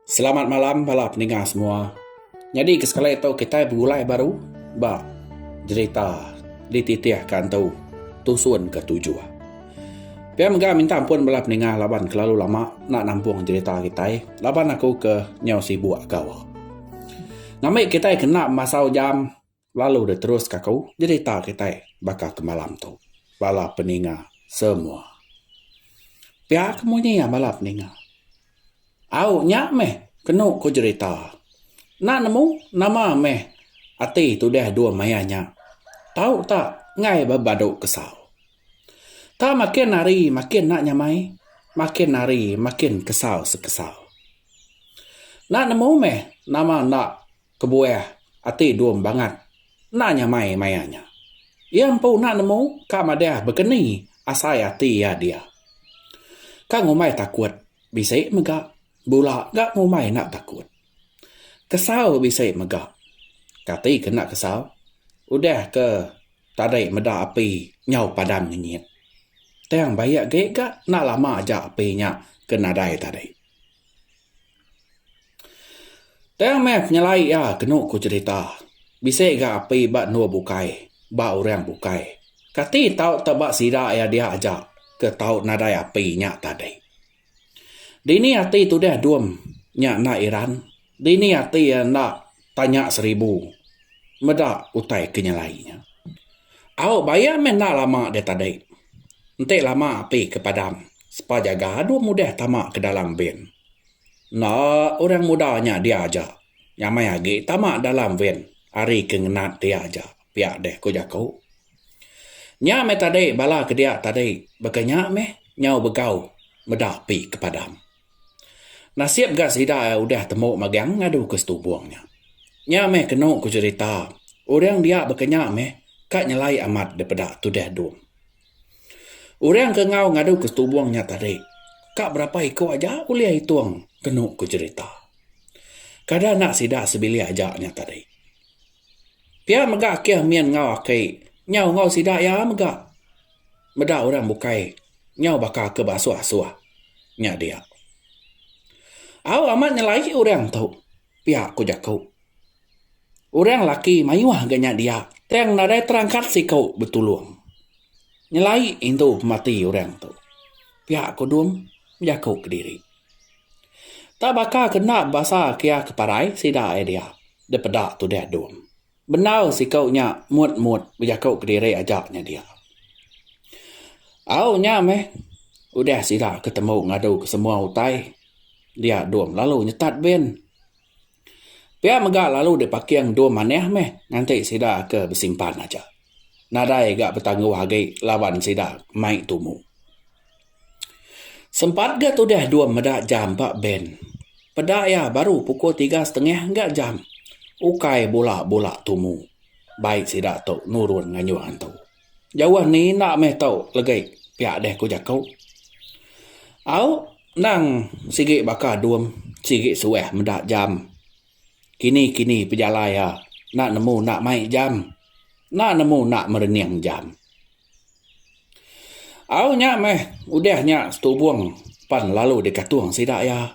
Selamat malam bala pendengar semua. Nyadi ke sekali tu kitai begulai baru ba jerita dititihka entu Tusun ke Tujuh. Pia mega minta ampun bala pendengar laban kelalu lama enda nampung jerita kitai laban aku ke nyau sibuk gawa. Ngambi kitai kena masau jam Lalu deh terus ka aku nyerita kitai baka ke malam tu bala peninga semua. Pia ke munyi iya bala peninga. Au nya meh kenu ku jerita. Enda nemu nama meh ati tudah dua maya nya. Tau ta enggai bebadu kesau. Ta makin hari makin enda nyamai, makin hari makin kesau sekesau. Enda nemu meh nama enda. Kebuah ati Dum bangat enda nyamai maya nya. Iya empu enda nemu ka madah begeni asai ati iya dia. Ka ngumbai takut bisi mega bula ga ngumbai enda takut. Kesau bisi mega. Kati ke enda kesau udah ke tadi meda api nyau padang ngenyit. Tang bayak ge ga enda lama aja api nya ke nadai tadi. Tang meh penyelai iya kenu ku cerita bisi ga api ba endur bukai ba orang bukai kati tau te ba sida iya dia aja ke tau nadai api nya tadi. Dini ati tudah dum nya enda iran. Dini ati iya enda tanya seribu meda utai ke nyelai nya. Au bayak meh enda lama dia tadi. Enti lama api ke padam sepa jaga dua mudih tama ke dalam ven. Enda orang muda nya dia aja nyamai agi tama dalam ven ari ke ngenat dia aja pia deh ku jaku. Nya meh tadi bala ke dia tadi baka nya meh nyau begau meda api ke padam. Nasib ga sida iya udah temu magang ngadu ke setumbung nya. Nya meh kenu ku cherita, orang dia baka nya meh ka nyelai amat dipeda tudah dum. Orang ke enggau ngadu ke setumbung nya tadi ka berapa iku aja ulih itung kenu ku cherita. Kada enda sida sebilik aja nya tadi. Pia mega keh min enggau aki nya enggau sida iya mega. Meda orang bukai nyau baka ke beasuh-asuh nya dia. Au amat nyelai orang tu pia ku jaku. Orang laki mayuh ga nya dia tang nadai terangkat siku betulung nyelai indu pemati orang tu pia ku Dung bejaku kediri. Tak baka ke enda bebasa kia ke parai sida ia dia dipeda tudah Dung. Bendar siku nya mut mut bejaku kediri aja nya dia. Au nya meh udah sida ke temu ngadu ke semua utai dia dom lalu nyetat bin. Pia mega lalu dipaking dom manah meh nganti sida ke besimpan aja. Nadai ga betangguh agi laban sida mai tumu. Sempat ga tudah dua meda jam ba bank. Peda iya baru pukul tiga setengah engga jam. Ukai bula bula tumu. Bai sida tu nurun ngayuh antu. Jauh ni enda meh tu legi pia deh ku jaku. Au nang sigi baka dum sigi suah meda jam. Kini kini pejalai iya enda nemu enda mai jam. Enda nemu enda merening jam. Au nya meh udah nya setubung pan lalu dikatung sida iya.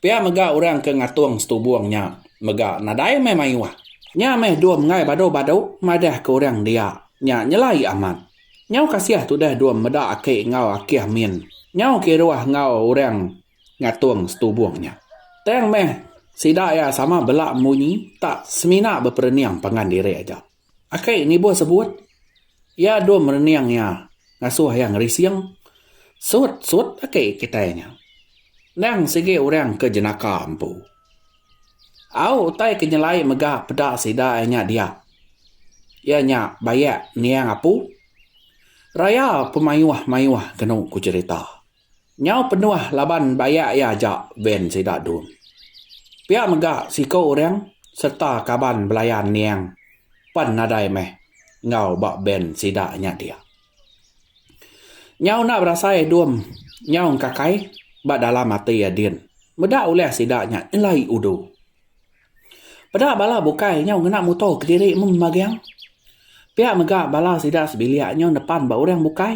Pia mega orang ke ngatung setubung nya mega nadai meh mayuh. Nya meh dua menggai badu-badu madah ke orang dia nya nyelai amat. Nyau kasih tudah dua meda aki enggau akih min nyau kiruh enggau orang ngatung setubung nya. Tang meh sida iya sama bela munyi tak semina beperening pangan diri aja. Akai nibuh sebut, iya dum rening iya ngasuh iya ngerising sut-sut agi kitai nya. Endang sigi orang ke jenaka empu. Au utai ke nyelai mega peda sida iya nya dia, iya nya bayak niang apu raya pemayuh-mayuh kenu ku cherita. Nyau penuh laban bayak iya aja van sida dun. Pia mega siko urang serta kaban belayan niang pen nadai meh enggau ba van sida nya dia. Nyau enda berasai dum nyau engkakai ba dalam ati iya din meda ulih sida nya nyelai udu. Peda bala bukai nyau ngena muto kediri mung magang. Pia mega bala sida sebilik nyau nepan ba orang bukai.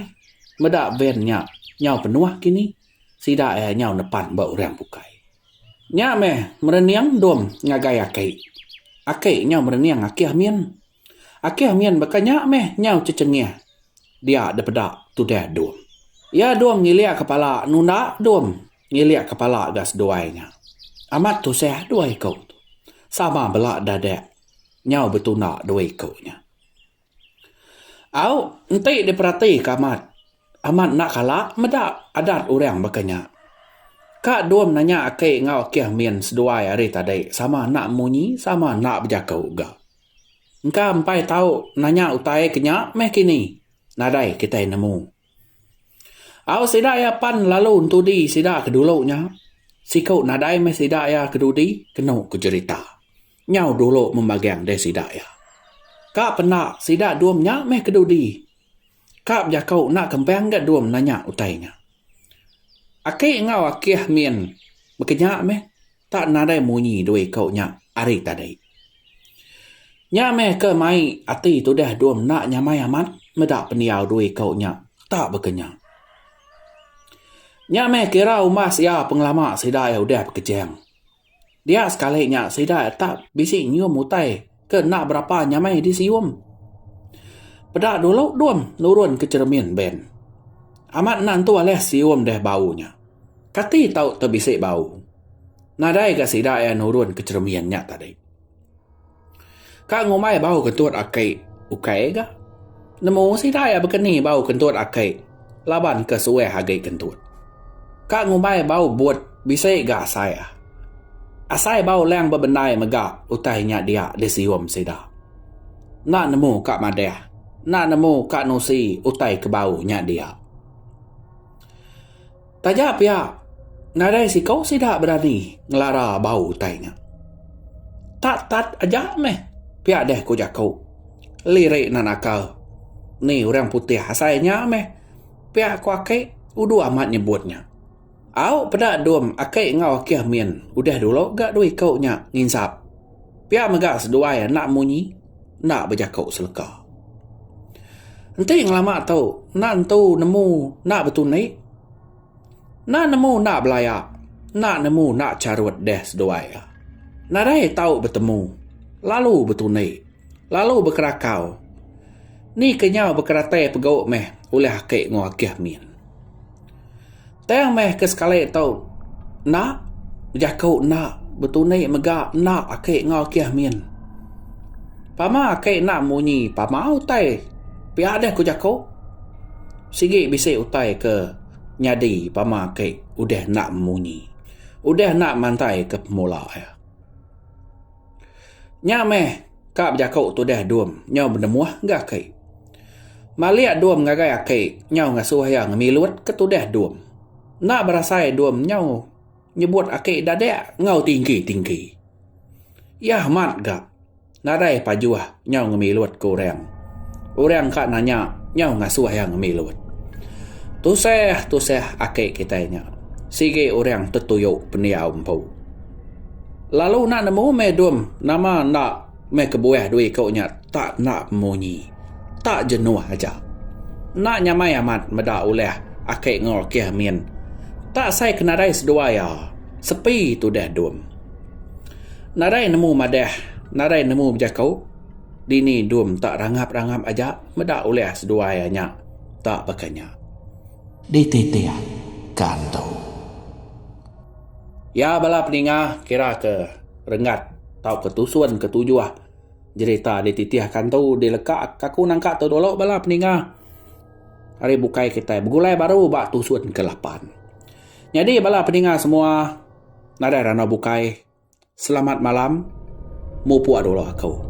Meda van nya nyau penuh kini, sida iya nyau nepan ba orang bukai. Nya meh merening endum ngagai aki. Aki nyau merening akih min. Akih min baka nya meh nyau cecengih dia dipeda tudah dum. Iya dum ngilik kepala nunda dum. Ngilik kepala ga seduai nya. Amat tusah dua iku tu. Sama bela dadak nyau betunda dua iku nya. Au enti diperatika amat, amat enda kala meda adat orang baka nya. Ka dom nanya aki enggau akih min seduai hari tadi sama enda munyi sama enda bejaku ga. Engka empai tau nanya utai ke nya meh kini. Nadai kitai nemu. Au sida iya pan lalu entudi sida ke dulu nya. Siku nadai meh sida iya ke dudi kenu ku jerita. Nyau dulu meh magang deh sida iya. Ka penda sida dua menya meh ke dudi. Ka bejaku enda kempang ga dua nanya utai nya. Aki enggau akih min bekenya meh Tak nadai munyi dua iku nya ari tadi. Nya meh ke mai ati tudah dua menda nyamai amat meda pendiau dua iku nya tak bekenya. Nya meh kira umbas iya pengelama sida iya udah bekejang. Dia sekali nya sida iya tak bisi nyium utai. Ke enda berapa nyamai disium. Peda dulu dum nurun ke cheremin ben. Amat enda entu alih sium deh bau nya. Kati tau te bisi bau. Nadai ga sida iya nurun ke cheremin nya tadi. Ka ngumbai bau kentut aki ukai ga. Nemu sida iya baka ni bau kentut aki. Laban ke suah agi kentut. Ka ngumbai bau but bisi ga asai. Asai bau lang bebendai mega utai nya dia disium sida. Enda nemu ka madah, enda nemu ka nusi utai ke bau nya dia. Taja pia, nadai siku sida berani ngelara bau utai nya. Tat tat aja meh pia deh ku jaku. Lirik nan naka ni orang putih asai nya meh pia ku aki udu amat nyebut nya. Au peda dum aki enggau akih min udah dulu ga dua iku nya nginsap. Pia mega seduai enda munyi, enda bejaku seleka. Enti ngelama tu, enda entu nemu enda betundi. Enda nemu enda belaya, enda nemu enda charut deh seduai iya. Nadai tau betemu, lalu betundi, lalu bekerakau. Ni kenyau bekeratai pegu meh ulih aki enggau agih min. Tang meh ke sekali tu enda bejaku enda betunik mega enda aki enggau keh min. Pama aki enda munyi pama utai pia deh ku jaku sigi bisi utai ke nyadi pama aki udah enda munyi udah enda mantai ke pemula iya. Nya meh ka bejaku tudah dum nyau benemuh enggau aki. Malik dum ngagai aki nyau ngasuh iya ngemilut ke tudah dum. Enda berasai dum nyau nyebut aki dadak enggau tinggi-tinggi. Iya amat ga nadai pajuh nyau ngemilut ke orang. Orang ka nanya nyau ngasuh iya ngemilut. Tusah-tusah aki kitai nya. Sigi orang tetuyu pendiau empu. Lalu enda nemu meh dum nama enda meh kebuah dua iku nya tak enda munyi tak jenuh aja enda nyamai amat meda ulah ake enggau ake min tak sai ke nadai sedua iya sepi tudah dum nadai nemu madah nadai nemu bejaku dini dum tak rangap rangap aja meda ulah sedua iya nya tak baka nya. Dititiah ka antu. Iya bala peninga kira ke renggat tauka tusun ke tujuh jerita ti titih akan tu dileka ka aku nangka tu dulu bala peninga ari bukai kitai begulai baru ba tusun ke lapan. Nyadi bala peninga semua nadai randau bukai. Selamat malam mupuk adulok aku.